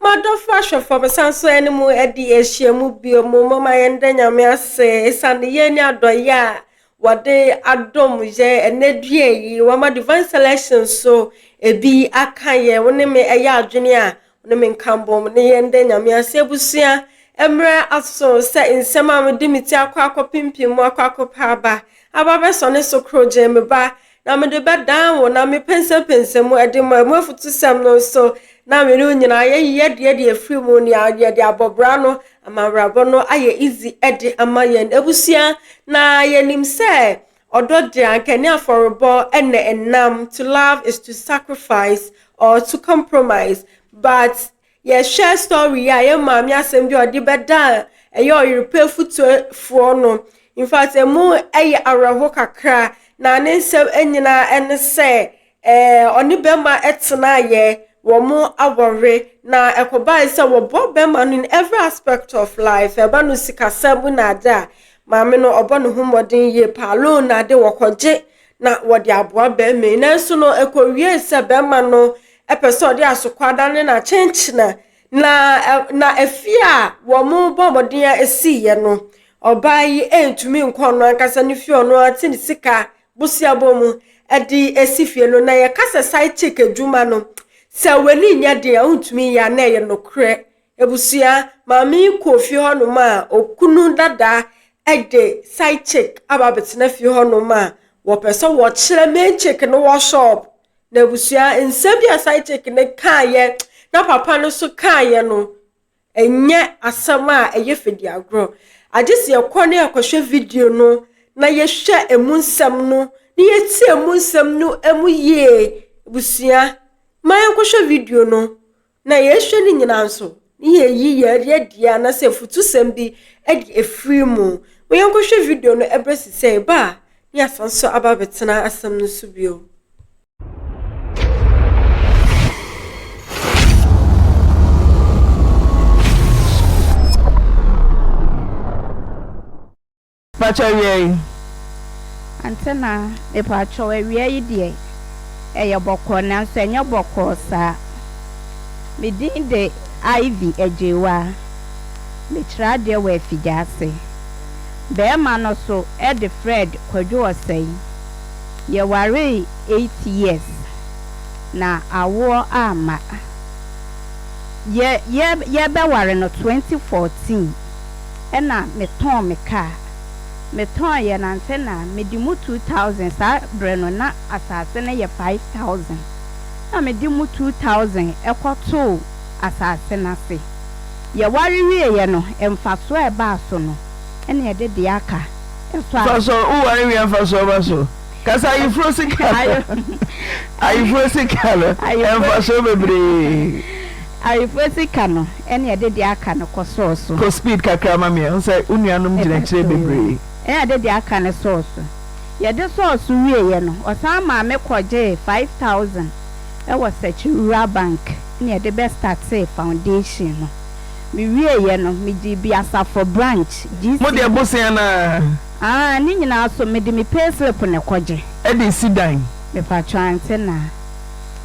M'adɔfo ahwɛfo, mesan so ne mo adi ahyiam bio mu. Momma yɛnda Nyame ase esiane yɛ ne adɔyɛ a wɔde adom yɛ ɛnɛ dua yi. Wɔama Divine Selection so ebi aka yɛn. Wo ne me ɛyɛ adwene a, wo ne me nka bom ne yɛnda Nyame ase. Abusua, mmerɛ aso sɛ nsɛm a mede me ti akɔ akɔpempem mu akɔ akɔpɛ aba, aba bɛsɔne so korogyenn. Me ba, Na mede bɛdan wo, na mepɛnsɛmpɛnsɛ mu de ma mu afutusɛm no nso, na mene wo nyinaa yɛyi adeɛ de afiri mu, nea yɛde abɔbra no ama awerabɔ no ayɛ izi de ama yɛn abusua. Na yɛnim sɛ ɔdɔ deɛ, anka ɛne afɔrebɔ na ɛnam, to love is to sacrifice or to compromise, but Yɛhwɛ story yi a yɛ maame asɛm bi a ɔde bɛda a ɛyɛ ɔyerepɛ futuafoɔ no. In fact, emu yɛ awerɛho kakra na ne nsɛm nyinaa ne sɛ ɛɛ ɔne bɛrima tenaeɛ, wɔn awɔre na ɛkɔbae sɛ wɔbɔ bɛrima no in every aspect of life. Ɛba no sikasɛm mu na ade a, maame no ɔbɔ ne ho mmɔden yie paa. Loan na ade wɔkɔgye na wɔde aboa bɛrima yi. Nanso no ɛkɔwiee sɛ bɛrima no pɛ sɛ ɔde asokwadan ne no akyenkyena, na na afie a wɔbɔ mmɔden a esiiɛ no, ɔbaa yi ntumi nkɔ ɔno ankasa ne fie ɔno ara te ne sika boseabɔ mu de esi fie no, na yɛka sɛ side chick adwuma no, sɛ w'ani nyɛ den a wontumi nyɛ a na ɛyɛ nokorɛ. Abusua, maame yi kɔɔ fie hɔnom a okunu dada de side chick aba abɛtena fie hɔnom a wɔpɛ sɛ wɔkyerɛ main chick no wɔ shop. N'abusua, nsɛm bi a side chick no kaeɛ na papa no nso kaeɛ no, ɛnyɛ asɛm a ɛyɛ fediagorɔ. Agye sɛ yɛkɔ na yɛkɔhwɛ video no na yɛhwɛ emu nsɛm no na yɛtie emu nsɛm no mu yie. Abusua, ma yɛnkɔhwɛ video no Na yɛhwɛ ne nyinaa nso, ne yɛyi yɛn yɛdeɛ anaasɛ afutusɛm bi de afiri mu. Mo yɛnkɔhwɛ video no ɛberɛ sesɛɛ ba a, ne yɛasan nso aba abɛtena asɛm no so bio. Pakyɛw wia yi ante na. Mepakyɛw awia yi deɛ ɛyɛ bɔkɔɔ nanso ɛnyɛ bɔkɔɔ saa. Me din de Ivy Agyewaa. Mekyerɛ adeɛ wɔ afigya ase. Bɛɛma no so de Fred Kwadwo Ɔsɛe. Yɛwaree eight years na awoɔ amma. Yɛ yɛ yɛbɛware no twenty fourteen. ɛna me tɔn me car me tɔn yɛ na nsɛ na me di mu two thousand saa brɛ no na asaase no yɛ five thousand na me di mu two thousand ɛkɔ too asaase no ase yɛ ware wie yɛ no nfasoɔ a ɛbaa so no ɛna yɛde deɛ aka ɛsɔ a. Pastor wo ware wie a nfasoɔ ba so. Kasa ayeforo sika no. Ayeforo sika no. Mfasoɔ bebree. Ayeforo sika no ɛna ɛde deɛ aka no kɔ sɔɔ so. Kɔ speed kakra ma me. Ɔn sɛ wo nuanom gyina akyire bebree. Ɛna ɛde deɛ aka no sɔɔ so. Yɛde sɔɔ so wieɛ no, ɔsan maa me kɔgyee five thousand wɔ Sɛkyi Rural Bank ɛna yɛde bɛ startee foundation no. Mewieɛ no, megyee Biasafo Branch, GCB. Mo deɛ bosea no ara. Aah ne nyinaa so mede me pay slip na ɛkɔ gye. Ɛde esi dan. Mepakyɛw ante na.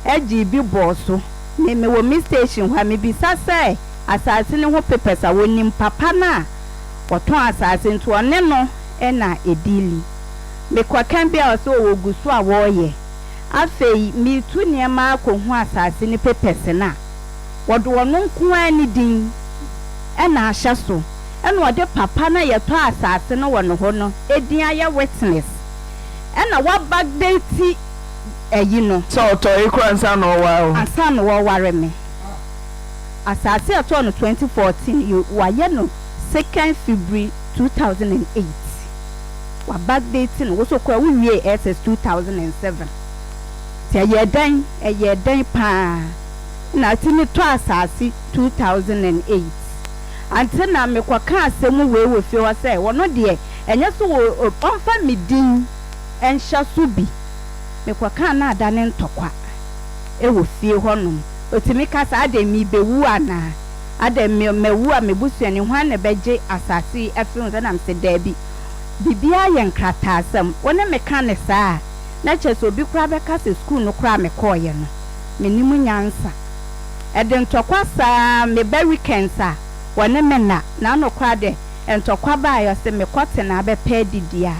Ɛgye bi bɔɔ so. Me mewɔ me station hɔ a mebisa sɛ asaase no ho papers a wɔnim papa no a ɔtɔn asaase nti ɔne no na ɛdili. Mekɔ ka bi a ɔse o wɔgu so a wɔreyɛ. Afei metu nneɛma akɔ hu asaase no papers no a wɔde ɔno nko ara ne din na ahyɛ so. na ɔde papa no a yɛtɔɔ asase no wɔ ne hɔ no din ayɛ witness na w'abackdate ayi no. Sɛ ɔtɔe koraa ansa na ɔware wo. Ansa na ɔware me. Asase a yɛtɔɔ no twenty fourteen yi w'ayɛ no second February two thousand and eight. W'abackdate no wo nso koraa wo wiee SS two thousand and seven. Nti ɛyɛɛ dɛn ɛyɛɛ dɛn paa na ati no tɔ asase two thousand and eight. Ankyɛ na mekɔkaa asɛm wei wɔ fie hɔ sɛ, Ɔno deɛ, ɛnyɛ sɛ ɔmfa me din nhyɛ so bi. Mekɔkaa na adane ntɔkwa wɔ fie hɔnom. Ɔtumi ka sɛ, Adɛn, merebɛwu anaa? Adɛn, mawu a me busuani, hwan na ɛbɛgye asase yi afiri wo nsam? Na mese, Daabi, biribiara yɛ nkrataasɛm. Wo ne me ka no saa a, na kyerɛ sɛ obi koraa bɛka sɛ sukuu no koraa a mekɔeɛ no, mennim nyansa. Ɛde ntɔkwa saa me ba weekends a wɔne me nna na anokora de ntɔkwa ba a yɔse me kɔ tena abɛpɛ adidi a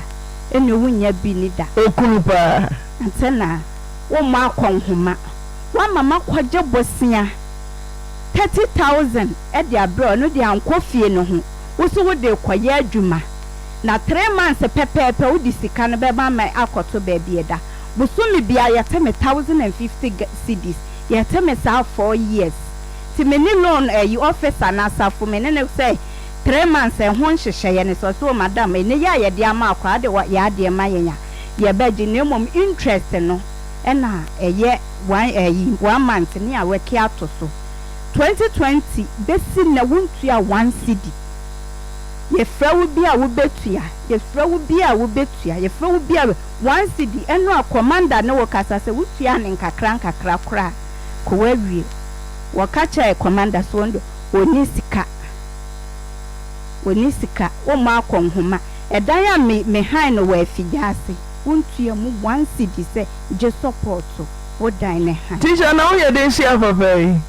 ɛne wo nya bi ni da. Okunu paa. Ante na wo mmɔ akɔ nhoma. Wama makɔ gye bosea thirty thousand de abrɛ wo, ɔno deɛ ankɔ fie ne ho, wo so wode rekɔ yɛ adwuma na three months pɛpɛɛpɛ wo de sika no bɛma me akɔ to baabi da. Bosome biara yɛte me thousand and fifty cedis. Yɛte me saa four years. Nti me ne loan ayi officer no asafo me ne no sɛ three months ɛho nhyehyɛeɛ no sɛ ɔse oh madam ɛnɛ yi a yɛde ama akwaa de yɛ adeɛ ma yɛn a yɛbɛgye na mmom interest no ɛna ɛyɛ one ayi one month ne awɛke ato so twenty twenty bɛsi nnɛ wontua one cedi yɛfrɛ wo bi a wobɛtua yɛfrɛ wo bi a wobɛtua yɛfrɛ wo bi a One cedi, ɛno a kɔmanda ne wo kasa sɛ wo suaa no nkakrankakra koraa kɔ woawie. Wɔka kyerɛɛ kɔmanda sɛ ɔno deɛ ɔnni sika, ɔnni sika, wommɔ akɔ nhoma. Ɛdan a me me hann no wɔ afigya ase, wontua mu one cedi sɛ gye sɔpɔɔto wo dan ne hann. Teacher na woyɛ den hyia papa yi.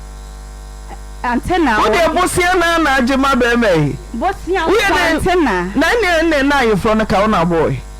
Antenna Wo deɛ bosea no ara na agye ma barima yi. Bosea nko antenna. Na ɛneɛ ɛneɛ na ayeforo no ka wo na ɔbɔɔe.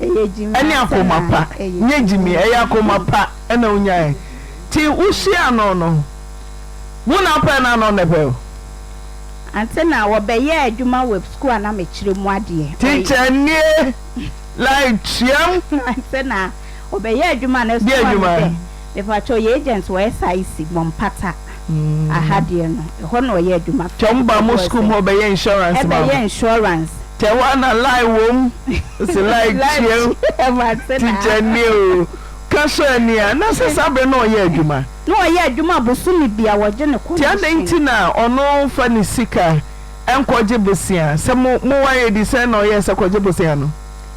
ɛne akoma pa nyɛ gyimii ɛyɛ akoma pa ɛna onyaɛ nti wohyia no no wo na pɛ na no nɛpɛ wo. Ante na wɔbɛyɛɛ adwuma wɔ sukuu a na mekyerɛ mu adeɛ. Teacher nie like tweam. Ante na wɔbɛyɛɛ adwuma na sukuu a medɛ. Mepakyɛw yɛ agent wɔ SIC bɔ mpata aha deɛ no ɛhɔ na ɔyɛ adwuma fɛ. Tɛm ba mo school mu ɔbɛyɛ insurance ma wo. Ɛbɛyɛ insurance. Tɛm a na lie wom ɔse lie kyeɛm teacher nie o ka sɔ ani a na sɛ saa bere na ɔyɛ adwuma. Na ɔyɛ adwuma bosome bia wɔgye no commission. Nti adɛn nti na ɔno nfa ne sika nkɔ gye bosea sɛ mo mo ware di sɛn na ɔyɛ sɛ kɔ gye bosea no.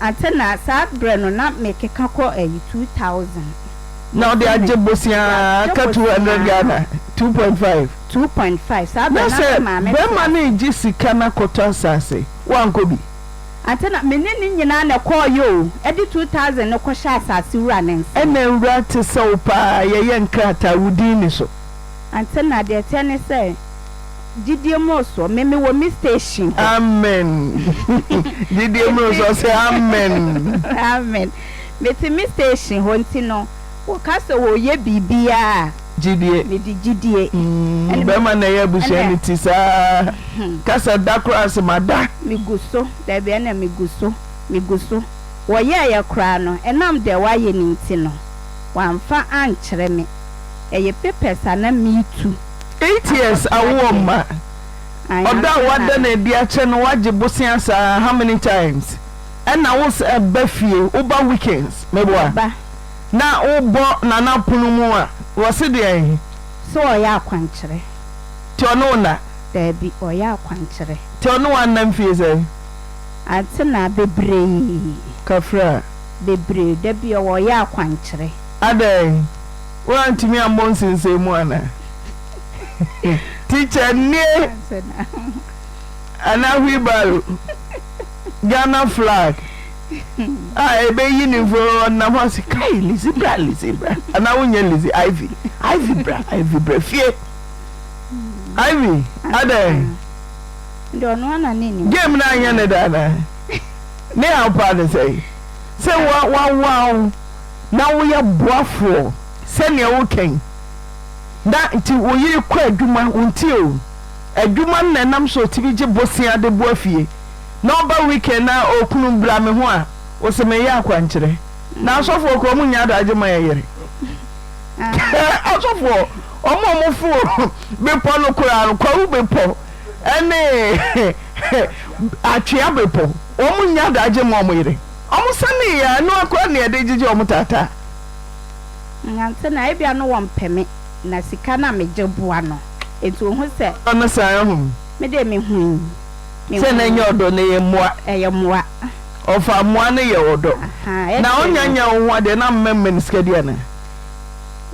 Ante na saa berɛ no na me keka kɔ ɛyi two thousand. Na ɔde agye boseaa ka two hundred Ghana, two point five. Two point five, saa berɛ na me maame te ase. Na sɛ bɛrima no regye sika no akɔtɔ asaase, wankɔ bi? Ante na me ne ne nyinaa na ɛkɔɔeɛ o, ɛde two thousand no kɔhyɛ asaase wura no nsam. Ɛna nwura te sɛ wo paa, yɛyɛ nkrataa wo din ne so. Ante na deɛ ɛteɛ ne sɛ. Gyidie mmorosoɔ me me wɔ me station hɔ. Amen gyidie mmorosoɔ sɛ amen. Amen me te me station hɔ nti no wɔ ka sɛ wɔ yɛ biribiaa a. Gyidie. Me de gyidie. Ɛne bɛma na ɛyɛ abusua no ti saa ka sɛ da koraa se ma da. Me gu so daabi ɛne me gu so me gu so wɔ yɛ yɛ koraa no ɛnam deɛ wa yɛ no nti no wa nfa ankyerɛ me ɛyɛ papers a na me tu. Eights awo ɔmma ɔdɔ a wada no adi akyɛ no wagye bosea saa how many times ɛna wo san ba fie wo ba weekends meboa na wo bɔ nana pono mu a wɔ se deɛn. Sɛ ɔyɛ akwankyerɛ. Nti ɔne wo nna. Daabi ɔyɛ akwankyerɛ. Nti ɔne wo anna mfie sɛn. Antenaa bebree. Kafra. Bebree dabi ɔwɔ ɔyɛ akwankyerɛ. Adɛn. Woantumi ammɔ nsensɛn mu anaa? Teacher nie anaa wheelbarrow? Ghana flag a ɛbɛyi ne mfo ɔnam hɔ ase kai Lizzy bra Lizzy bra anaa wonyɛ Lizzy Ivy Ivy bra Ivy bra fie Ivy adɛn game no anyɛ ne da anaa ne haw paa ne sɛ sɛ wawoa wo na woyɛ boafoɔ sɛdeɛ woka yi na nti wo yere kɔ adwuma wo nti o adwuma no na ɛnam so ɔtumi gye bosea de boa fie na ɔba weekend na okunu bra me ho a wo se meyɛ akwankyerɛ na asɔfoɔ kɔ ɔmo nyɛ adagye ma yɛ yere asɔfoɔ ɔmo ɔmo fo bepɔ no koraa no kwawu bepɔ ɛne atwea bepɔ ɔmo nyɛ adagye ma ɔmo yere Ɔmo sanee a ɛno ara koraa na yɛde gyegye ɔmo taataa. Nante na ebia no wɔn pɛ me na sika na me gye boa no nti ohu sɛ. Ɔdɔ no saa ho. Me deɛ me hui me hui. Sɛ na ɛnyɛ ɔdɔ na ɛyɛ mmoa. Ɛyɛ mmoa. Ɔfaa mmoa no yɛ ɔdɔ. Ahaa ɛkyɛ no. Na ɔnya nyɛ wo ho adeɛ na mma mma no sika di anaa.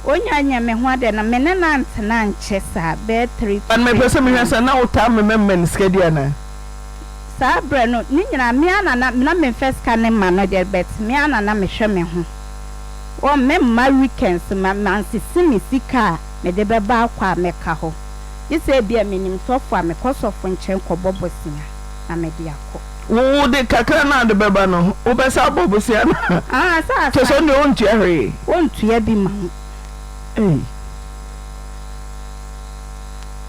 Ɔnya nyɛ me ho adeɛ no me ne no antena ankyɛ saa bɛyɛ three to five months. But me pɛ sɛ me hwɛ sɛ na wo taa mma mma no sika di anaa. saa berɛ no ne nyinaa me ara na na na memfa sika no mma no deɛ but me ara na na mehwɛ me ho wɔ me mma weekends ma mansisi me sika a mede bɛba akɔ a mɛka hɔ gye sɛ ebia menim sɔfo a mekɔ sɔfo nkyɛn kɔbɔ bosea na mede akɔ. Wo wo de kakra no a wode bɛba no wobɛsan abɔ bosea anaa? Ahaa sɛ asan. Kyerɛ sɛ wo deɛ wontua hwee. Wontua bi ma wo. Ei.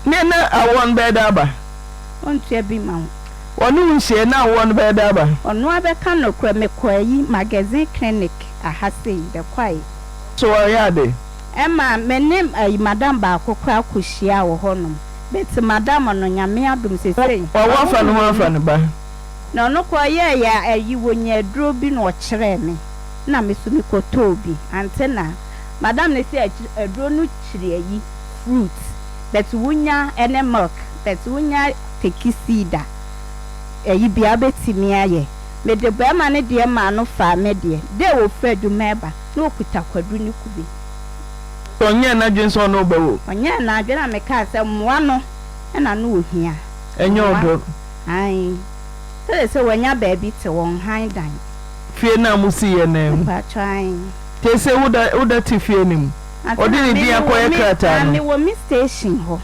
Neɛ na awɔ no bɛyɛ dɛn aba? ɔntua bi ma wo. Wɔne wo nhyiae no awoɔ no bɛyɛ dɛ aba. Ɔno ara bɛka nokorɛ mekɔ ayi magazine clinic aha sei bɛkɔae. So wɔreyɛ ade? Ɛma me ne ayi madam baako koraa kɔhyiaa wɔ hɔ nom but madam no Nyame adom sesei. Wawo afa ne ho afa ne ba. Na ɔno koraa ɔyɛɛ yɛ ayi wɔnya aduro bi na ɔkyerɛɛ me na me so mekɔtɔɔ bi ante na madam no se aduro no kyiri ayi fruit. but wo nya ɛne milk but wo nya teki seed a ɛyi bia wo bɛtumi ayɛ me de barima no deɛ maa no faa me deɛ dɛ wɔ firi adwuma ɛba na ɔkuta kwadu ne kube. So ɔnyɛɛ n'adwene sɛ ɔne wo bɛwo? Ɔnyɛɛ n'adwene a me kaa sɛ mmoa no na na ɔhia. Ɛnyɛ mmoa ɔdɔ. Ae sɛdeɛ sɛ wanya baabi te wɔ nhan dan. Fie no a mo siiɛ no mu. Mpakyɛw ae. Te sɛ wo da wo da te fie no mu. Ɔde ne din akɔyɛ krataa no. Mewɔ me station hɔ.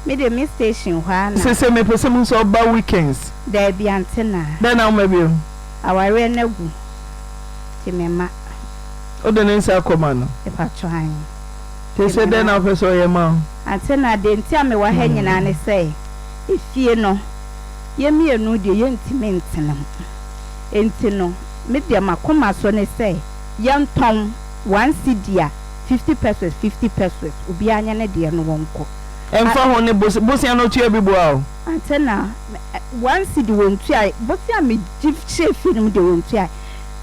Me deɛ me station hɔ ara na. Sese me pɛ sɛ mu sɛ ɔba weekends. Daabi antenaa. Dɛn na wo ma bio. Awareɛ no agu nti me ma. Wode ne nsa akɔ ma no. Mpakyɛw ahe. Sese dɛn na wo pɛ sɛ ɔyɛ ma wo. Antenaa deɛ nti a me wɔ ha nyinaa ne sɛ efie no yɛ mmienu deɛ yɛ ntumi ntena mu nti no me deɛ makoma so ne sɛ yɛntɔn. One cedi a fifty pesos fifty pesos obiara nyɛ ne deɛ no wɔnkɔ. Ɛmfa ho ne bose bosea no tua bi boa o. Ansa na me one cedi wɔntuae bosea a megye hyɛɛ fie no mu deɛ wɔntuae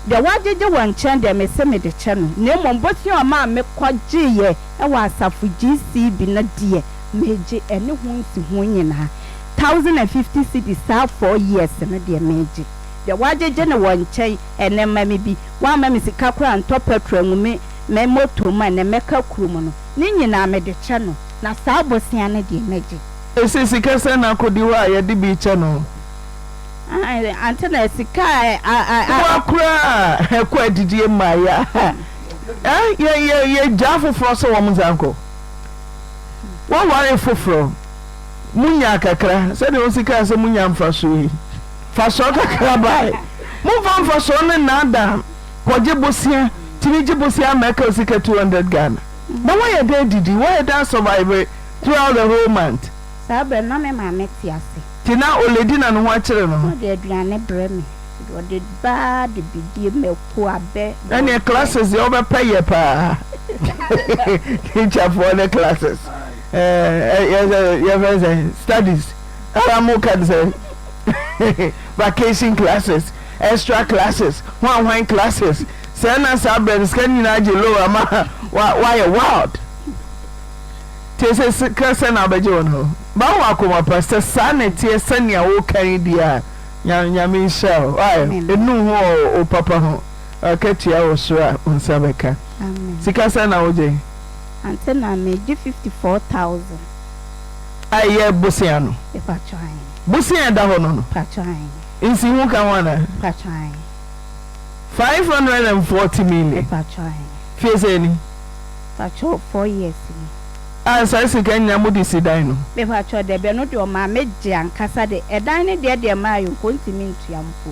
deɛ wɔagyegye wɔ nkyɛn deɛ mese mede kyɛ no na mmom bosea a ɔmaa mekɔgyeeɛ wɔ asafo GCB no deɛ megye ɛne ho nsiho nyinaa thousand and fifty cedis saa four years no deɛ megye deɛ wɔagyegye no wɔ nkyɛn Ɛnɛ ma me bi. Woamma me sika koraa ntɔ pɛtro angu me me moto mu a, ɛnɛ mɛka kurom no. Ne nyinaa mede kyɛ no, na saa bosea no deɛ, mɛgye. Ese sika sɛn na akodi hɔ a yɛde bi kyɛ no? Aane, ante na sika a a a a. Boa koraa a ɛkɔ adidie mmaa yi a eh, yɛ yɛ yɛgyaa afoforɔ sɛ wɔn nsa nkɔ. Woaware foforɔ? Munyaa kakra, sɛdeɛ ɔsi kaa sɛ monya mfasoɔ yi, mfasoɔ kakra bae. Momfa mfasoɔ no nnaadaa kɔgye bosea, tumi gye bosea ama ɛka wo sika 200 Ghana. Na woayɛ dɛn adidi, woayɛ dɛn asɔvaive throughout the whole month? Saa berɛ no, na me maame te ase. Nti na Oledi na ne ho akyere no no. Ɔde aduane brɛ me. Ɔde ba ara de bidie, mako, abɛ, borɔdeɛ. Ɛnneɛ classes deɛ wobɛpɛ yɛ paa. Teacherfoɔ ne classes. Ɛɛ yɛ sɛ yɛfrɛ sɛ studies ara mo ka sɛ vacation classes extra classes hwan hwan classes sɛ na saa berɛ no sika no nyinaa gye low ama wa wayɛ wild tie sɛ sika sɛ na abɛgye wɔn hɔ ba wɔ akoma pa sɛ saa na ɛteɛ sɛnea woka yi deɛ a nya nyame nhyɛ o wayɛ ɛnu ho wɔ o papa ho akatua wɔ soro a wo nsa bɛka sika sɛ na wogye Ansa na me gye fifty four thousand. Ayi yɛ bosea no. Mpatsɔ ae. Bosea a ɛda hɔ no no. Mpatsɔ ae. Nsiho ka ho anaa? Mpatsɔ ae. Five hundred and forty million. Mpatsɔ ae. Fie sɛn ni? Mpatsɔ four years ni. A saa sika nyinaa mo de si dan no. Mpatsɔ dɛbi ɛno deɛ ɔmaa me gye ankasa de ɛdan no deɛ deɛ maa yɛ nko ntumi ntua mpo.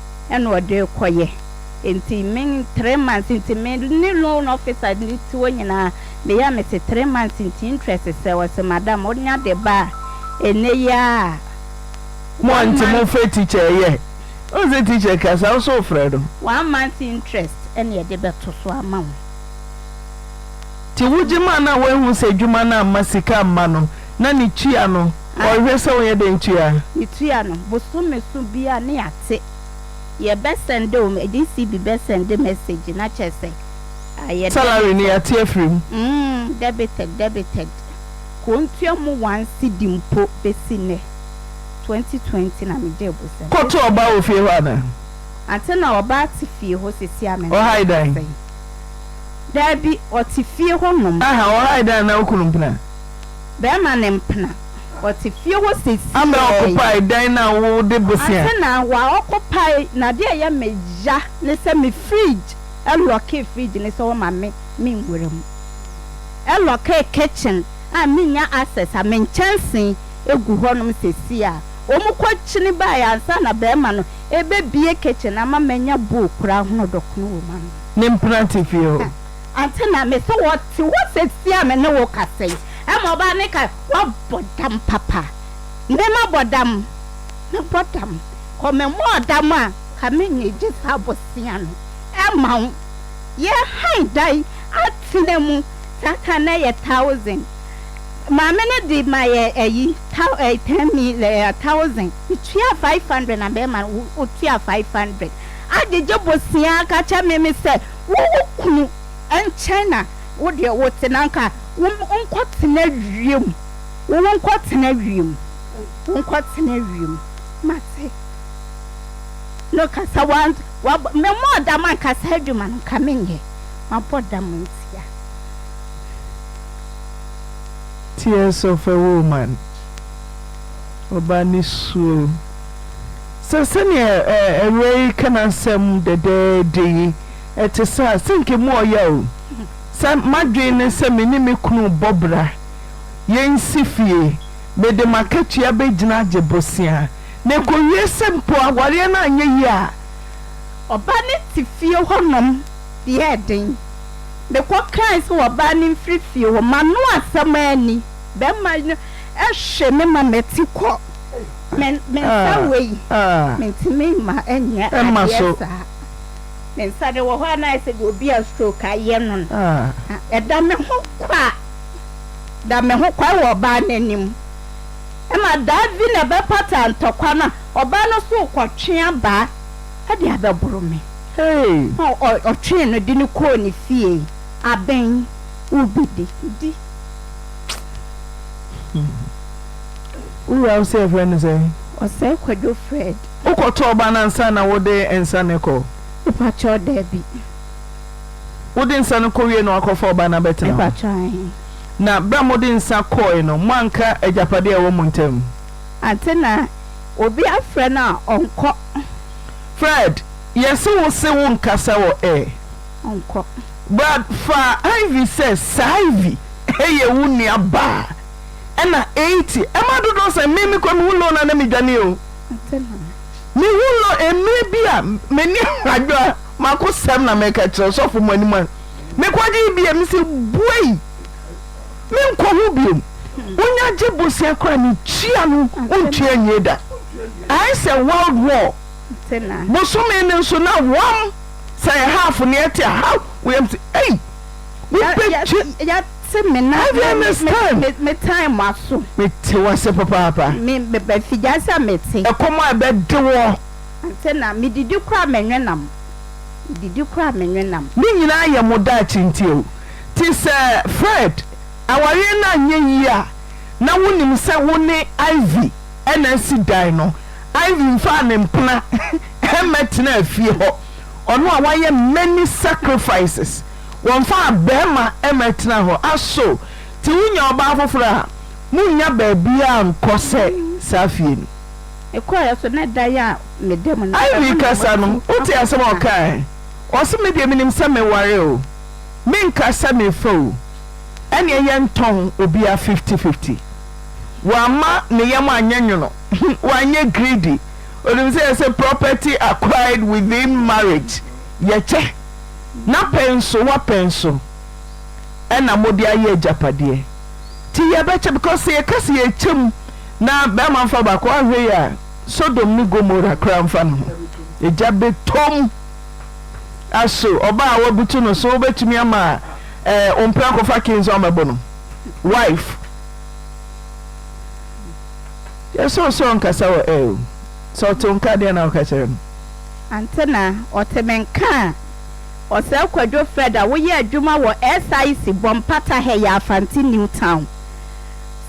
ɛna ɔde rekɔ yɛ nti me three months nti me ne loan officer ne ti hɔ nyinaa me yɛ a me se three months nti interest sɛ ɔse madam wo nya de ba a ɛnɛ yi ara a Mo one nti mo month frɛ teacher ɛyɛ wo se teacher ka saa wo so wo frɛ no. one month interest ɛna yɛde bɛto so ama wo. Nti wo gye ma no a woanhu sɛ adwuma no amma sika amma no. Na ne tua no, ɔhwɛ sɛ wɔyɛ dɛn tua? Ne tua no, bosome so biara ne ate. Yɛ bɛ sɛnde o, GCB bɛ sɛnde message na kyerɛ sɛ ayɛ debited. Salary no yɛate afiri mu. Mm, debited, debited. Kontua mu one cedi mpo besi nnɛ. Twenty twenty na me gyee bosome. Kɔ to ɔbaa wɔ fie hɔ anaa? Ante na ɔbaa te fie hɔ sesi a me ne no Ɔhae dan? kasa yi. Dabi, ɔte fie hɔ nom. Aha, ɔhae dan anaa wo kunu mpena? Bɛrima ne mpena, wɔte fie hɔ sesei. Ana ɔkopae dan no a wode bosea? Atena, waa ɔkopae, na deɛ ɛyɛ me ya ne sɛ me fridge, ɛlɔkee fridge no sɛ ɔmma me me nwura mu. Ɛlɔkee kitchen a mennya access a me nkyɛnsee ɛgu hɔnom sesei a wɔkɔ kyini baeɛ ansa na bɛrima no ɛbɛbue kitchen no ama manya bowl koraa hono dɔkono wɔ mu anom. Ne mpena te fie hɔ. Ansa na me sɛ wɔte hɔ seesei a me ne wo kasa yi. Ɛma ɔbaa no kae, Woabɔ dam papa. Me mabɔ dam? Mebɔ dam. Kɔ memmɔɔ dam a, nka mennya egye saa bosea no mma wo. Yɛn hann da yi atena mu. Saa kan no na ɛyɛ thousand. Maame no de ma yɛ ayi, thou, eh, ten mil, eh, thousand. Metua five hundred na mɛma no, wo, wotua five hundred. Agyegye bosea ka kyerɛ me, me sɛ, wo wo kunu nkyɛn na wo deɛ wo te na nka wo nkɔ tena wiem wo wo nkɔ tena wiem wo nkɔ tena wiem ma se no kasa wa wa me mɔ dam ankasa adwuma no nka me nyɛ ma bɔ dam ntia. Tears of a woman, ɔba ne suo. Sɛ sɛnea awuraa yi ka n'asɛm dɛdɛɛdɛ yi te sɛ a, sɛ anka emu ɔya o. Sɛ m'adwene ne sɛ me ne me kunu bɔ bra, yensi fie, mede m'akatua begyina agye bosea, na ekowie sɛ mpo awareɛ no anyɛ yie a, Ɔbaa no te fie hɔnom yɛɛ den. Mekɔkae sɛ ɔbaa no mfiri fie hɔ, m'ano asɛm anni, barima no hwe me ma mete kɔ. Menka wei, mentumi mma ɛnyɛ adeɛ saa. Me nsa no wɔ hɔ a na ayɛ sɛ deɛ obi a stroke ayɛ no no. Ɛda me ho kwa, ɛda me ho kwa wɔ ɔbaa no anim. Ɛma daa bi na ɛbɛpata ntɔkwa no a, ɔbaa no nso rekɔtwe abaa de abɛboro me. Ɔtwee no de no kɔɔ ne fie, abɛn, wobɛdi. Wura wo se yɛfrɛ no sɛn? Ɔsɛe Kwadwo Fred. Wokɔ tɔɔ ba no ansa na wo de nsa no kɔ? Mepakyɛw dabi. Wo de nsa no kɔ wie na wakɔ fa ɔba no abɛtena hɔ? Mepakyɛw ahe. Na bere a mo de nsa kɔɔe no mo anka agyapade a ɛwɔ mo ntam? Ante na obi afrɛ no a ɔnkɔ. Fred, yɛse wo se wo nkasa wɔ air. Ɔnkɔ. Brad, fa Ivy sɛ saa Ivy yɛ wo nua baa. ɛna eighty ɛma dodoɔ sɛn me me kɔ me hu low na na me dwane o me hu low emire bi a me ni adwa ma ko sɛm na me ka kyerɛ sɔfo mo anim a me kɔ gye bi a me se buei me nkɔ ho biom wonya gye bosia kora ne tua no wontua nwie da ayɛ sɛ world war bosome no nso na wɔm sɛ yɛ half ne ɛte a how wɔyam se ei wobɛgye Se me na me me me me tan mo aso. Me te wo ase papaapa. Me me ba fi gya se a me te. Ɛkɔm a ɛbɛ de wo. Anse na me didi kora me nwe nam. Me didi kora me nwe nam. Ne nyinaa yɛ mo daakye nti o. Te sɛ Fred, awareɛ no anyɛ yie a na wonim sɛ wo ne Ivy na asi dan no. Ivy mfaa ne mpena mmɛtenaa fie hɔ, ɔno a wayɛ many sacrifices wɔmfaa barima mmɛtena hɔ. Aso te wonya ɔbaa foforɔ a, monnya baabiara nkɔ sɛ saa fie no. Mekɔeɛ so na dan a meda mu no, ɛhɔ Ivy na kasa no, wɔatu wote asɛm a akɔtena. ɔkaeɛ? Ɔse me deɛ menim sɛ meware o, menka sɛ mefa o, ɛneɛ yɛntɔn obiara fifty fifty. Wamma ne yam anyɛ nwono, wanyɛ greedy, onim sɛ yɛse property acquired within marriage yɛkyɛ. Na pɛn so wapɛn so ɛna mode ayɛ agyapadeɛ ti yɛbɛkyɛ because sɛ yɛka sɛ yɛkyɛ mu na bɛma nfa baako ahwɛ yi a Sodom ne Gomora koraa nfa ne ho egya bɛtɔm aso ɔbaa a wabutu no so wobɛtumi ama ɛɛ ompra kɔfa key nso amɛbɔ no wife yɛsɛ ɔsɛ ɔnkasa wɔ ɛɛ sɛ ɔte nka deɛ na ɔka kyerɛ no. Antena, ɔte me nka a. Ɔsɛe Kwadwo Fred a woyɛ adwuma wɔ SIC bɔ mpata ha yi Afante New Town.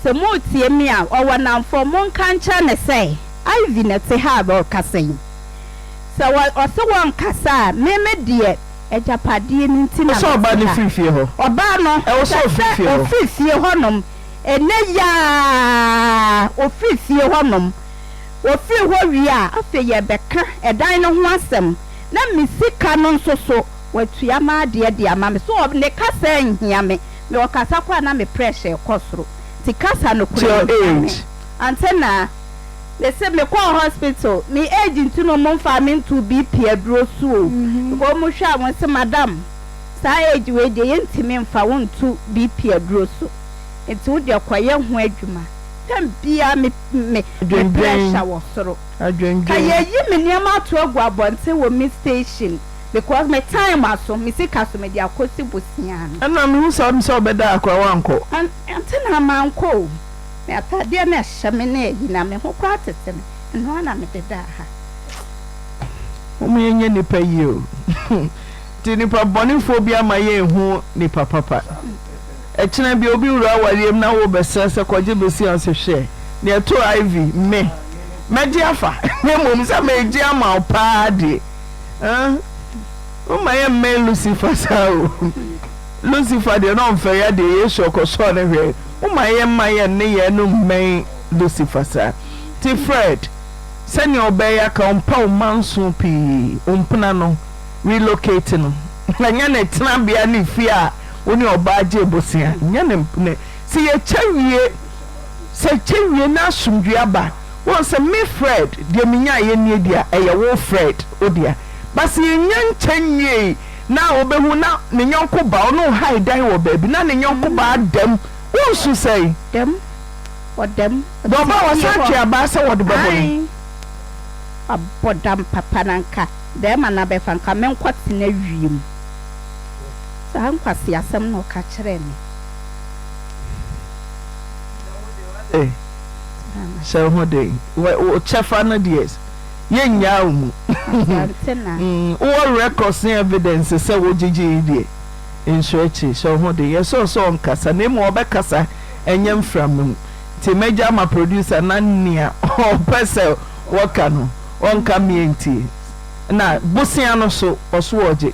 Sɛ moretie me a, ɔwɔ nnamfo, monka nkyerɛ no sɛ Ivy na ɛte ha a ɔrekasa yi. Sɛ wɔ, ɔse wɔnkasa a, me me deɛ, agyapadeɛ no nti na mete ha. Ɛwɔ sɛ ɔbaa no firi fie hɔ. Ɔbaa no, ɛwɔ sɛ ɔfiri fie hɔnom. Ɛnnɛ yi ara, ɔfiri fie hɔnom. Wɔfiri hɔ wie a, afei yɛrebɛka ɛdan no ho asɛm, na me sika no nso so, watua m'adeɛ de ama me. So ne kasa nhia me? Me ɔkasa kɔ a na me pressure rekɔ soro, nti kasa no kura nhia me. Antenna, Me se mekɔɔ hospital, me age nti no wɔn mfaa me ntoo BP aduro so o, because wɔn hwɛ a wɔn se madam saa age wei deɛ yɛntumi mfa wo nto BP aduro so, nti wo deɛ kɔyɛ ho adwuma. Tɛm biara me me me pressure wɔ soro. Ka yɛ yi me nneɛma ato agu abɔnten wɔ me station because me time aso me sika so me de akɔ si bosia no. Ɛna me hu saa me sɛ ɔbɛda a koraa wankɔ. Ante na mankɔ o me ataadeɛ na ɛhyɛ me ne ayi na me ho koraa tete me ɛno ara na me de daa ha. Mom yɛ nyɛ nipa yie o nti nipa bɔne foɔ bi ama yɛ nhu nipa papa. Ɛkyena bi obi wura awareɛm na wo bɛsrɛ sɛ kɔgye bosea se hwɛ deɛ ɛtoo Ivy me mɛgye afa na mmom sɛ meegye ama wo paa deɛ ah wo mma yɛ mmɛn Lucifer saa o Lucifer deɛ na ɔmfɛre adeɛ Yesu ɔkɔsɔɔ no hwɛ wo mma yɛ mma yɛ nneyɛɛ no mmɛn Lucifer saa nti Fred sɛdeɛ ɔbɛɛyɛ aka wo mpa wo manso pii wo mpena no relocate no ɛnyɛ ne tenabea ne fie a wo ne ɔbaa gye bosea nyɛ ne ne sɛ yɛkyɛ wie sɛ kyɛ wie na asomdwie aba wohu sɛ me Fred deɛ menyaeɛ nie deɛ ɛyɛ wo Fred wo dea but sɛ yɛnya nkyɛ nwiei na a wobɛhu na ne yɔnko baa ɔne wo hae dan wɔ baabi na ne yɔnko baa dam wonsu sɛe dam wɔ dam deɛ ɔbaa wɔ san twe abaa sɛ wɔde bɛbɔ no abɔ dam papa na nka bɛrima no abɛfa nka menkɔ tena wiem. Saa nkwaseasɛm na ɔka kyerɛɛ me. Eh, sɛ wo ho den. Wo kyɛfa no deɛ, yɛnnyaa wo mu. Wowɔ records ne evidence sɛ wogyegyeeɛ deɛ, nhyɛ akyiri. Sɛ wo ho den. Yɛsɛ ɔsɛ ɔnkasa, na mmom ɔbɛkasa, ɛnyɛ mframa mu. Nti mɛgya ama producer na nea ɔpɛ sɛ ɔka no, ɔnka mmea ntie. Na bosea no so, ɔso ɔgye.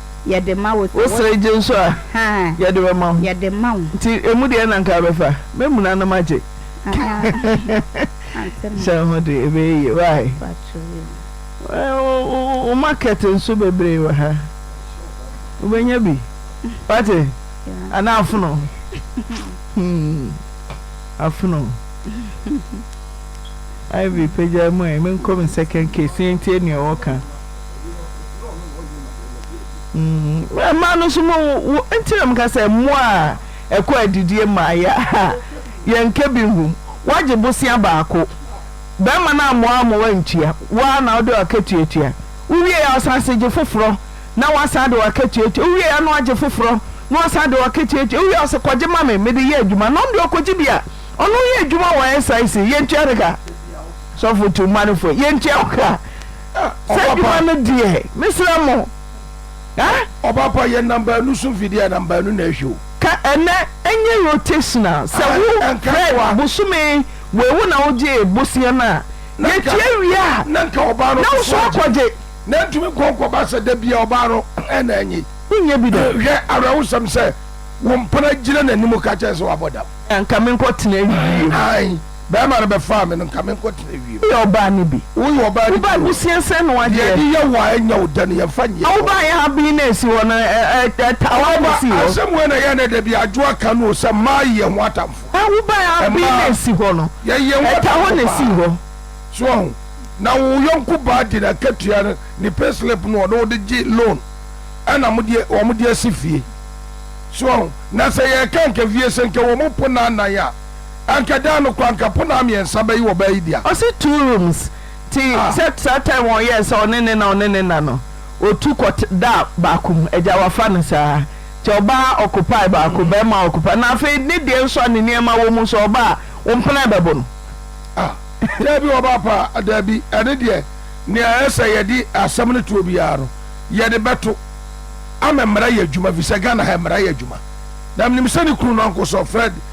yɛde ma wo. Wosere gye nso a, yɛde bɛma wo. Yɛde ma wo. Nti emu deɛ na nka bɛfa, mɛmuna na magye. Hyɛ ho de, ɛbɛyɛ yie. Why? Wo market nso bebree wɔ ha. Wobɛnya bi. Wate? Anaa afono. Afono. Ivy pagya mu ɛ, menkɔ me second case, yɛntie nea ɔwɔ ka. Mmaa no nso mo wo nti na meka sɛ mmoa a ɛkɔ adidie mmaeɛ a yɛnka bi nhu woagye bosea baako bɛrima no ammoa ama woantua wo ara na wode w'akatua tua wowie a ɔsan se gye foforɔ na woasan de w'akatua atua wowie a na wagye foforɔ na woasan de w'akatua atua wowie a ɔse kɔgye ma me mede yɛ adwuma na ɔno deɛ ɔkɔgye bi a ɔno yɛ adwuma wɔ SIC yɛntua ne ka sɔfo tu mma no fo yɛntua wo ka Saa adwuma no deɛ mesrɛ mo eh. Ɔpapa yɛ nam baanu so mfidie a nam baanu na ɛhwɛ o. Ka ɛnɛ ɛnyɛ rotation a sɛ wo hwɛ bosome wei wo na wo gye boseɛ no a yɛtua wie a na wo so akɔ gye. Na ntumi nkɔ nkɔ ba sɛ da bia ɔbaa no ɛna ɛnye. Wo nyɛ bi da. Hwɛ awɛwosɛm sɛ wo mpena gyina n'anim ka kyɛn sɛ wabɔ dam. Anka me nkɔ tena awie mu. Bɛɛma no bɛfaa me no nka me nkɔ tena wiem. Woyɛ ɔbaa no bi. Woyɛ ɔbaa no bi o. Wobaa abusua sɛn na wadeɛ. Deɛ yɛde yɛ wo a ɛnyɛ wo dɛ no yɛnfa nyɛ hɔ. Na wobaa yɛ ha bee na ɛsi hɔ no ɛtaa wo na ɛsii hɔ. Ɔba asɛm wei na ɛyɛ ɛnɛ dabi adwo aka no o sɛ mmaa yi yɛ ho atamfo. Na wobaa yɛ ha bee na ɛsi hɔ no ɛtaa hɔ na ɛsii hɔ. So wahu. Na wo yɔnko baa de n'akatua no ne pay slip no ɔno ɔde gye loan ɛna modeɛ wɔn de asi fie. So wahu. Na sɛ yɛreka nka fie sɛ nka wɔn po naanan a. Anka daa no kɔ anka ponaa miɛnsa bɛye wɔbaa yi dea. Ɔse two rooms nti Ah. sɛ saa time wɔn yɛɛ sɛ ɔne ne na ɔne ne na no ɔtu kɔ t daa baako mu agya wafa no saa nti ɔbaa ɔkopae baako bɛɛma ɔkopae na afei ne deɛ nso a ne nneɛma wɔ mu nso ɔbaa wo mpena bɛbo no. Ah daabi ɔbaa pa a daabi ɛne deɛ nea ɛyɛ sɛ yɛde asɛm no toɔ biara no yɛde bɛto ama mmara yɛ adwuma fisɛ Ghana ha mmara yɛ adwuma na menim sɛ ne kunu no Uncle Sir Fred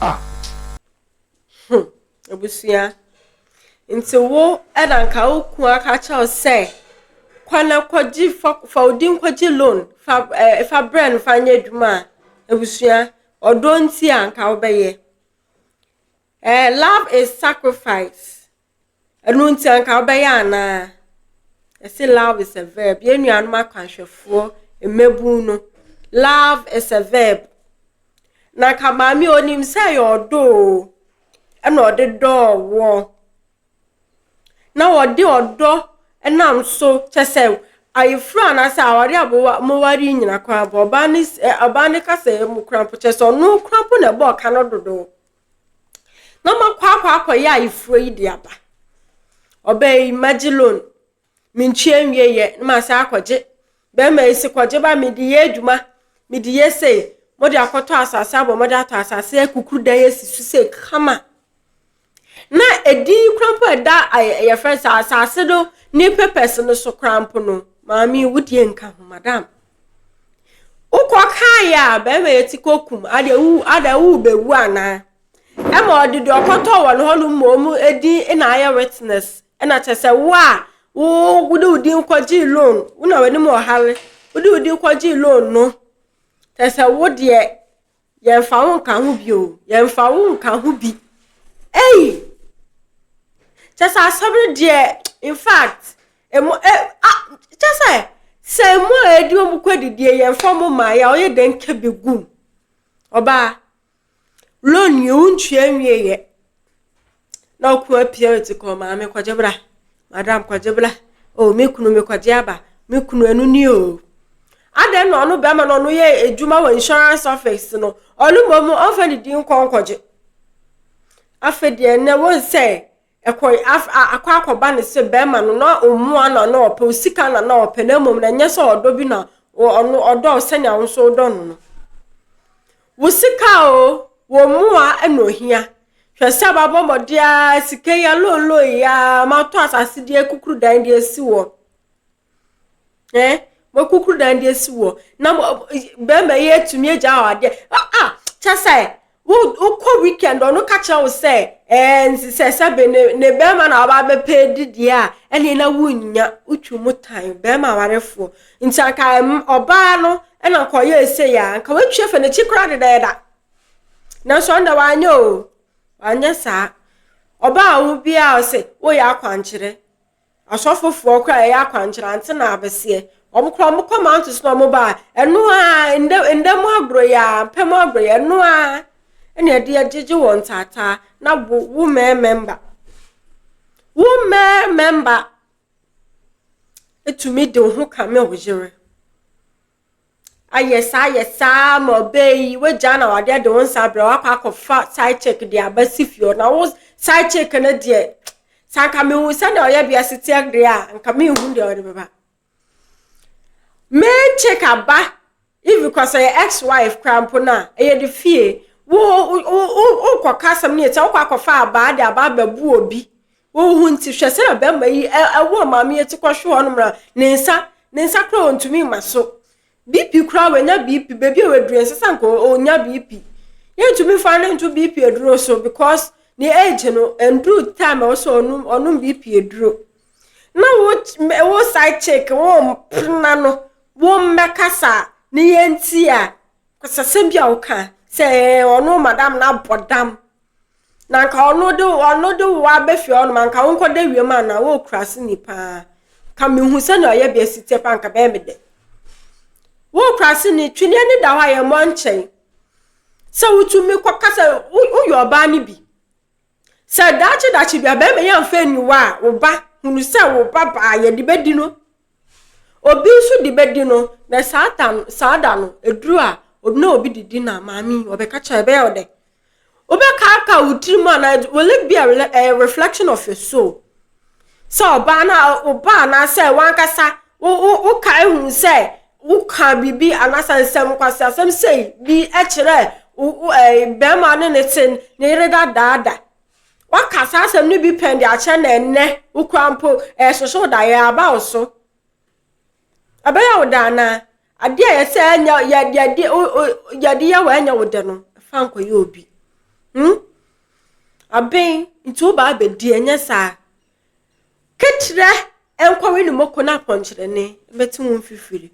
Ah! Hmm, abusua. Nti wo ɛna nka wo kun aka kyerɛ wo sɛ kɔ na kɔgye fa fa wo din kɔgye loan fa ɛɛ eh, fa brɛ no fa nyɛ adwuma a abusua ɔdɔ nti a nka wobɛyɛ. Eh, love is sacrifice Ɛno nti anka wobɛyɛ anaa? Yɛse love is a verb. Yɛn nuanom akwanhwɛfoɔ mmabun no, love is a verb. Na anka maame onim sɛ ɛyɛ ɔdɔ o, ɛna ɔde dɔɔ woɔ. Na ɔde ɔdɔ nam so kyɛ sɛ ayeforo anaasɛ aware a moware yi nyina koraa ɔbaa ne ɔbaa ne kasɛɛ mu koraa mpo kyɛ sɛ ɔno koraa mpo na ɛbɔɔ ka no dodo. na makɔ akɔ akɔyɛ ayeforɔ yi de aba ɔbaa yi magye loan mentua nwie yɛ na masan akɔgye bɛrima yi se kɔgye ba mede yɛ adwuma mede yɛ sei mode akɔtɔ asase abɔ mode atɔ asase akukuru dan asi so sei kama na ɛdin yi kora mpo ɛda yɛfrɛ sɛ asase no ne papers no so kora mpo no maame wodie nka ho madam Wokɔ kae a bɛrima yɛ ti kɔ kum adeɛ wo adeɛ wo bɛwu anaa ɛma ɔde deɛ ɔkɔtɔ wɔn hɔ no ma ɔmu ɛdin ɛna ayɛ witness ɛna kyɛ sɛ wo a wo wode wo din kɔgyee loan wo na w'anim ɔhare wode wo din kɔgyee loan no kyɛ sɛ wo deɛ Yɛmfa wo nka ho bi o, yɛmfa wo nka ho bi. Ei! Kyɛ sɛ asɛm no deɛ, in fact, emu ɛ a kyɛ sɛ sɛ emu a ɛdi wɔn kɔ didie yɛmfa wɔn mmaa yɛ a ɔyɛ dɛ nka bi gum. Ɔbaa, loan yɛ wontua nwie yɛ. na ɔko apia ɔte kɔ maame kɔgye bra madam kɔgye bra o oh, me kunu me kɔgye aba me kunu ɛno ni o oh. adɛn na ɔno bɛrima na ɔno yɛ adwuma wɔ insurance office no ɔno mmom ɔmfa ne din nkɔ nkɔgye afei deɛ nnɛ wɔn sɛ ɛkɔ akɔ akɔba ne sɛ bɛrima no na ɔmmoa na na ɔpɛ osika na na ɔpɛ na mmom na ɛnyɛ sɛ ɔdɔ bi na ɔno ɔdɔ sɛnea wo nso wodɔ no no Wo sika o, wo mmoa na ohia. Hwɛ sɛ mabɔ mmɔden ara, sika yi alonlon yi ara, matɔ asase de akukuru dan de asi wɔ. Eh, makukuru dan de asi wɔ. Na bɛrima yi atumi agya wɔ adeɛ. Ah, ah, kyɛ sɛ, wokɔ weekend ɔno ka kyerɛ wo sɛ, ɛɛ, nti sɛ sɛbe ne, ne bɛrima na waba abɛpɛ dideɛ a, ɛne na wonnya, wotwi mu tan, bɛrima awarefoɔ. Nti anka ɔbaa no na anka ɔyɛɛ sei a, anka watwa fa n'akyi koraa dedaɛda. Nanso ɔno dɛ wanyɛ o, wanyɛ saa. Ɔbaa ho biara ɔse, woyɛ akwankyerɛ. Asɔfofoɔ koraa ɛyɛ akwankyerɛ, ante na abeseɛ. Wɔn koraa wɔn kɔm ato so na wɔn baa. Ɛno ara, ndɛ, ndɛ mu agorɔ yi ara, mpɛ mu agorɔ yi, ɛno ara ɛna ɛde agyegye wɔn ntaataa na wo, wo mɛɛmɛmba. Wo mɛɛmɛmba. tumi de wo ho kame wo yere. Ayɛ saa ayɛ saa ma ɔbɛɛ yi, wagyaa na wade de wo nsa abrɛ wakɔ akɔfa side chick de aba si fie hɔ. Na wo side chick no deɛ, sɛ anka mehu sɛdeɛ ɔyɛ wiase teɛ deɛ a, anka menhu deɛ ɔde bɛba. Main chick aba Even kora sɛ yɛ ex wife kora mpo no a ɛyɛ de fie wo wokɔ ka asɛm no yɛ sɛ wokɔ akɔfa abaa de abaa bɛbu obi wo ho nti hwɛ sɛ na bɛrima yi ɛwɔ maame yɛ ti kɔhwe hɔ nom na ne nsa ne nsa kora ɔntumi ma so BP kora wanya BP baabi a waduru ɛnsɛ sɛ nka ɔnya BP yɛntumi fa no nto BP aduro so because ne age no ɛnduru time a ɔsɛ ɔnom ɔnom BP aduro na wo wo side chick wo mpena no wo mmɛkasa ne yɛn ti a kɔsasɛm bi a woka sɛ ɔno madam no abɔ dam na nka ɔno de ɔno de wo abɛfie ɔno ma nka wonkɔ da wiem a na wokura se ni paa ka mehu sɛnea ɔyɛ bea si tiɛ paa nka bɛyɛ me dɛ wokura se ni tweneɛ ne da hɔ a yɛmmɔ nkyɛn sɛ wotumi kɔkasa woyɛ ɔbaa no bi Sɛ daakye daakye bi a bɛrima yi amfa aniwa a, wo ba hunu sɛ wo ba baa yɛ de bɛdi no. Obi nso de bɛdi no, na saa ta no, saa da no, eduru a, obi na obi de di na maame yi ɔbɛka kyerɛ ɛbɛyɛ wo dɛ. Wobɛkaaka wo tirim anaa will it be a eh, reflection of your soul? Sɛ ɔbaa no a wo ba anaasɛ wankasa wo wo wo ka ehu sɛ wo ka biribi anaasɛ nsɛm nkwasi asɛm sei bi kyerɛ wo wo ɛɛ eh, bɛrima ne ne te ne yere dadaada. Waka saa asɛm no bi pɛn de akyerɛ na ɛnɛ wokura mpo ɛɛsoso daeɛ aba wo so. Ɛbɛyɛ wo dɛ anaa? Adeɛ a yɛsɛ ɛnyɛ yɛde yɛde yɛde yɛ wɔ ɛnyɛ wo dɛ no fa nkɔyɛ obi hmm aben nti wo baa bɛdi ɛnyɛ saa keterɛ ɛnkɔwe ne moko no apɔnkyerɛne bɛte wo mfifiri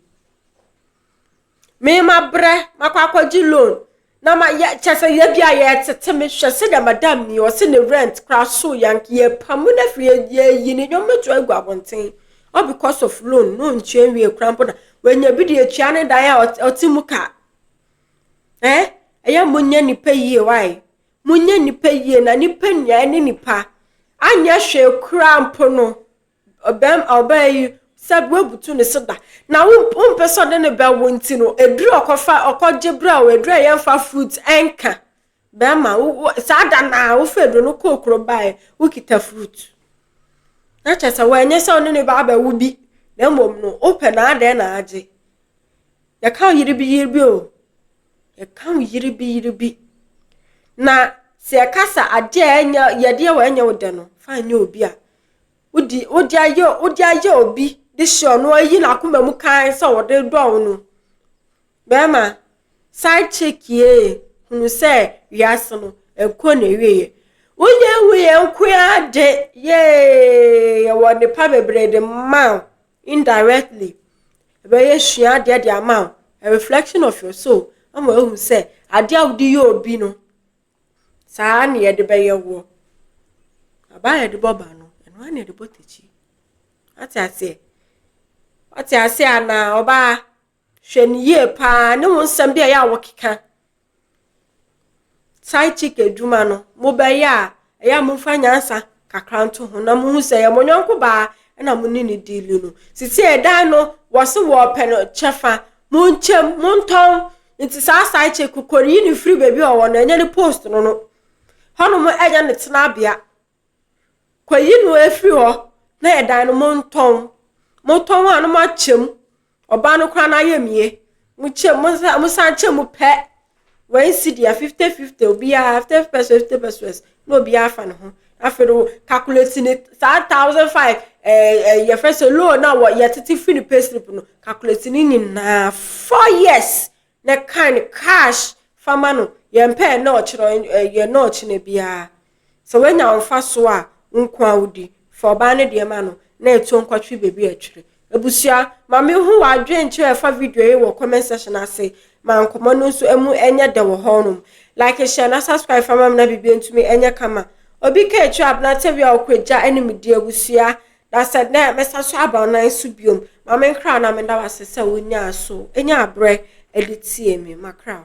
Me mabrɛ makɔ akɔgye loan na ma yɛ kyɛ sɛ yɛ bi a yɛtete me hwɛ sɛ dɛ madam mi ɔse ne rent kora so yank yɛpamu no afiri yɛyi ne nneɛma to agu abɔnten all because of loan na ɔntua nwie kora mpo na wanya bi de atua ne dan a ɔte mu ka eh ɛyɛ mo nyɛ nipa yie wae mo nyɛ nipa yie na nipa nua ne nipa anyɛ hwee kora mpo no Ɔbarima a ɔbaeɛ yi sɛ woabutu ne so da, na wompɛ sɛ ɔde no bɛwo nti no, aduru a ɔkɔfa ɔkɔgye berɛ a aduru a yɛmfa fruit ɛnka. Bɛrima, saa da no a wofa aduru no kɔɔ kuro baeɛ, wokita fruit. Na kyerɛ sɛ wɔanyɛ sɛ ɔne ne ba abɛwo bi, na mmom no wopɛ na adɛn na agye. Yɛka wo yere bi yere bi o, yɛka wo yere bi yere bi. Na sɛ yɛka sɛ adeɛ a ɛnyɛ yɛdeɛ wɔ ɛnyɛ wo dɛ no, fa nyɛ obi a wode wode ayɛ wode ayɛ obi de hyɛ ɔno ayi n'akoma mu kan sɛ ɔde dɔ wo no bɛrima side chick yie hunu sɛ wiase no ɛkɔ na ɛwieɛ wonyɛ hu yɛ nko ara de yee yɛwɔ nnepa bebree de ma wo indirectly ɛbɛyɛ sua adeɛ de ama wo a reflection of your soul ama wahu sɛ adeɛ a wode yɛ obi no Saa ara na yɛde bɛyɛ wo. Aba a yɛde bɔ ba no, ɛno ara na yɛde bɔ takyi. Ate aseɛ? Ate aseɛ anaa ɔbaa? Hwɛ no yie paa ne wo nsɛm bi a ɛyɛ a wokeka. Side chick adwuma no, mobɛyɛ a, ɛyɛ a momfa nyansa kakra nto ho na mohu sɛ ɛyɛ mo yɔnko baa na mo ne ne diili no. Sisi ɛdan no wɔse wɔpɛ no kyɛfa, monkyɛm, montɔn, Ntsi saa side chick no kor yi no fir beebi a ɔwɔ no, nnyɛ no post no no, hɔnom nnyɛ no tsenabea, kɔ yi no efir hɔ na yɛ dan no montɔn, motɔn a no makyɛ mu, ɔbaa no koraa n'ayamye, mokyɛ mo nsa mosan kyɛ mu pɛ, wɛnsi deɛ fifty fifty obiara fifty fifty pesewas fifty pesewas. na obiara afa ne ho afei no calculate ne saa thousand five ɛɛ eh, eh, yɛfrɛ sɛ loan a wɔ yɛtete firi ne pay slip no calculate ne nyinaa four years na kan no cash fama no yɛn pɛ yɛn nɔɔkye no eh, yɛn nɔɔkye no biara sɛ wanya nfa so a nko a wodi fa ɔbaa no deɛ ma no na ɛtuo nkɔtwe baabi a ɛtwere Abusua, ma me hu w'adwenkyerɛ a ɛfa video yi wɔ comment section ase ma nkɔmmɔ no nso ɛmu nyɛ dɛ wɔ hɔ nom. Like, share na subscribe fa ma me na biribiara ntumi nyɛ kama. Obi ka akyire a abena tɛwia a ɔkɔ agya anim di abusua. Na sɛ nnɛ mɛsa so aba wo nan so biom, ma me nkra na meda wo ase sɛ wo nyaa so nya abrɛ de tie me. Makra wo.